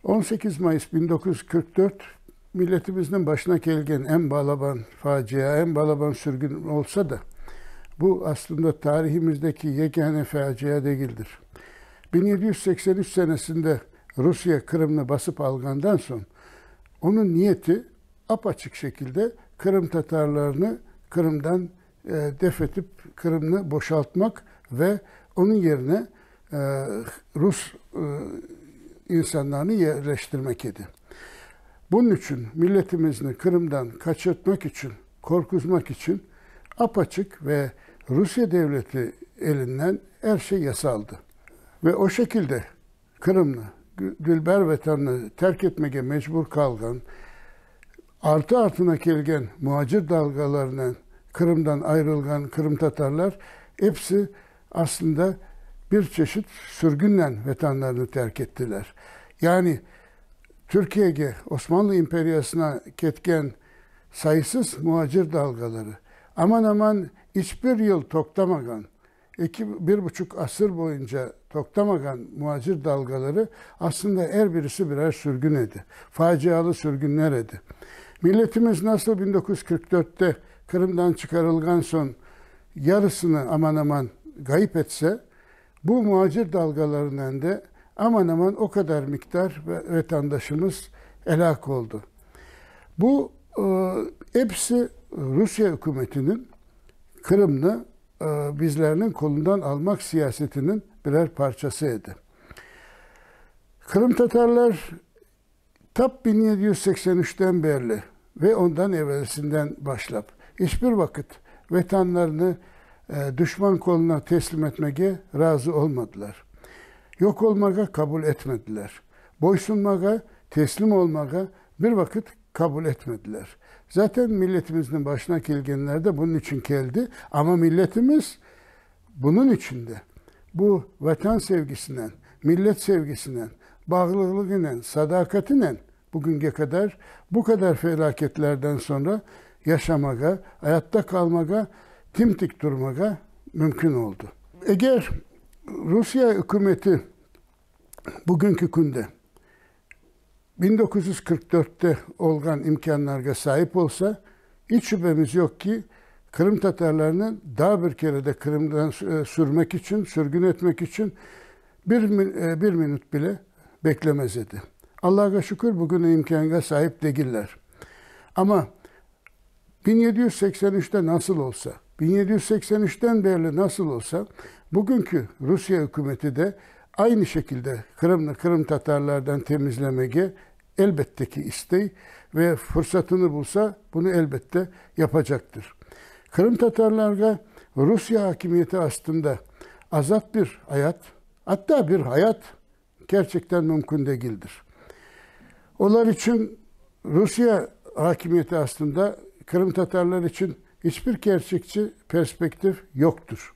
On sekiz mayıs biñ doquz yüz qırq dört milletimizniñ başına kelgen eñ balaban facia, eñ balaban sürgün olsa da, bu, aslında, tarihimizdeki yegâne facia degildir. Biñ yedi yüz seksen üç senesinde Rusiye Qırımnı basıp alğandan soñ, onıñ niyeti ap-açıq şekilde qırımtatarlarnı Qırımdan def etip Qırımnı boşaltmaq ve onıñ yerine rus insanlarını yerleştirmek edi. Bunıñ içün milletimizni Qırımdan qaçırtmaq içün, qorquzmaq içün apaçıq ve Rusiye devleti elinden er şey yasaldı. Ve o şekilde. Qırımnı, dülber Vatanını terk etmege mecbur qalğan, artı-artına kelgen muacir dalğalarınen Qırımdan ayrılğan qırımtatarlar episi aslında bir çeşit sürgünnen Vatanlarını terk ettiler. Yani Türkiyege, Osmanlı imperiyasına ketken sayısız muacir dalğaları aman-aman iç bir yıl toqtamağan, Eki, bir buçuq asır boyunca toqtamağan muacir dalğaları, aslında er birisi birer sürgün edi, facialı sürgünler edi. Milletimiz nasıl bin dokuz yüz qırq dörtte Qırımdan çıqarılğan soñ yarısını aman-aman ğayıp etse, bu muacir dalğalarınen de aman-aman o qadar miqdar vetandaşımız elâk oldı. Bu, episi Rusiye ükümetiniñ Qırımnı bizlerniñ qulundan almaq siyasetiniñ birer parçası edi. Qırımtatarlar tap biñ yedi yüz seksen üçten berli ve ondan evelisinden başlap, iç bir vaqıt Vetanlarını duşman qoluna teslim etmege razı olmadılar. Yoq olmağa qabul etmediler. Boysunmağa, teslim olmağa bir vaqıt Kabul etmediler. Zaten milletimizniñ başına kelgenler de bunun içün keldi. Amma milletimiz bunun içün de bu Vatan sevgisinen, millet sevgisinen, bağlılığınen, sadaqatinen bugünge kadar bu kadar felâketlerden sonra yaşamağa, ayatta qalmağa, tim-tik turmağa mümkün oldu. Eger Rusiye ükümeti bugünki künde biñ doquz yüz qırq dörtte olğan imkânlarğa saip olsa, iç şübemiz yoq ki, qırımtatarlarnı daa bir kere de Qırımdan sürmek içün, sürgün etmek içün bir bir minut bile beklemez edi. Allahğa şükür, bugün o imkânğa saip degiller. Amma Biñ yedi yüz seksen üçte nasıl olsa, biñ yedi yüz seksen üçten berli nasıl olsa, bugünki Rusiye ükümeti de aynı şekilde Qırımnı qırımtatarlardan temizlemege, elbette ki, istey ve fırsatını bulsa, bunı, elbette, yapacaqtır. Qırımtatarlarğa Rusiye akimiyeti astında azat bir ayat, atta bir hayat Kerçekten mümkün degildir. Olar içün Rusiye akimiyeti astında qırımtatarlar içün iç bir kerçekçi perspektiv yoqtur.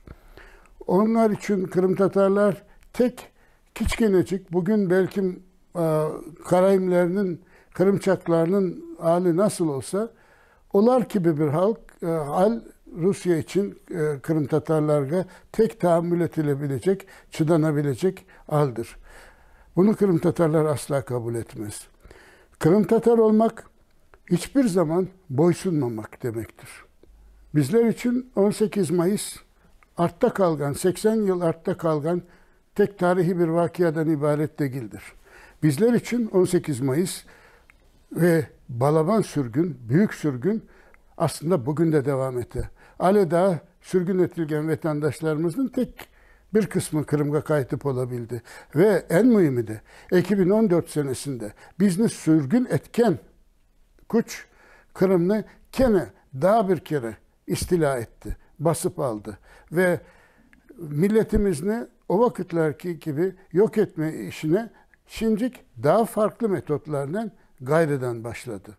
Onlar içün qırımtatarlar tek kiçkenecik, bugün belkim karaimlerniñ, qırımçaqlarnıñ ali nasıl olsa, Olar kibi bir hal, al Rusiye içün qırımtatarlarğa tek taammül etilebilecek, çıdanabilecek aldır. Bunı qırımtatarlar asla qabul etmez. Qırımtatar olmaq, iç bir zaman boysunmamaq demektir. Bizler içün on sekiz Mayıs, artta qalğan, seksen yıl artta qalğan tek tarihiy bir vaqiadan ibaret degildir. Bizler içün on sekiz mayıs ve balaban sürgün, büyük sürgün aslında bugün de devam ete. Ale daa sürgün etilgen vetandaşlarımıznıñ tek bir qısmı Qırımğa qaytıp ola bildi. Ve eñ müimi de, eki biñ on dört senesinde bizni sürgün etken küç Qırımnı kene daa bir kere istilâ etti, basıp aldı ve milletimizni o vaqıtlarki kibi yoq etme işine şimdik daa farqlı metodlarnen ğayrıdan başladı.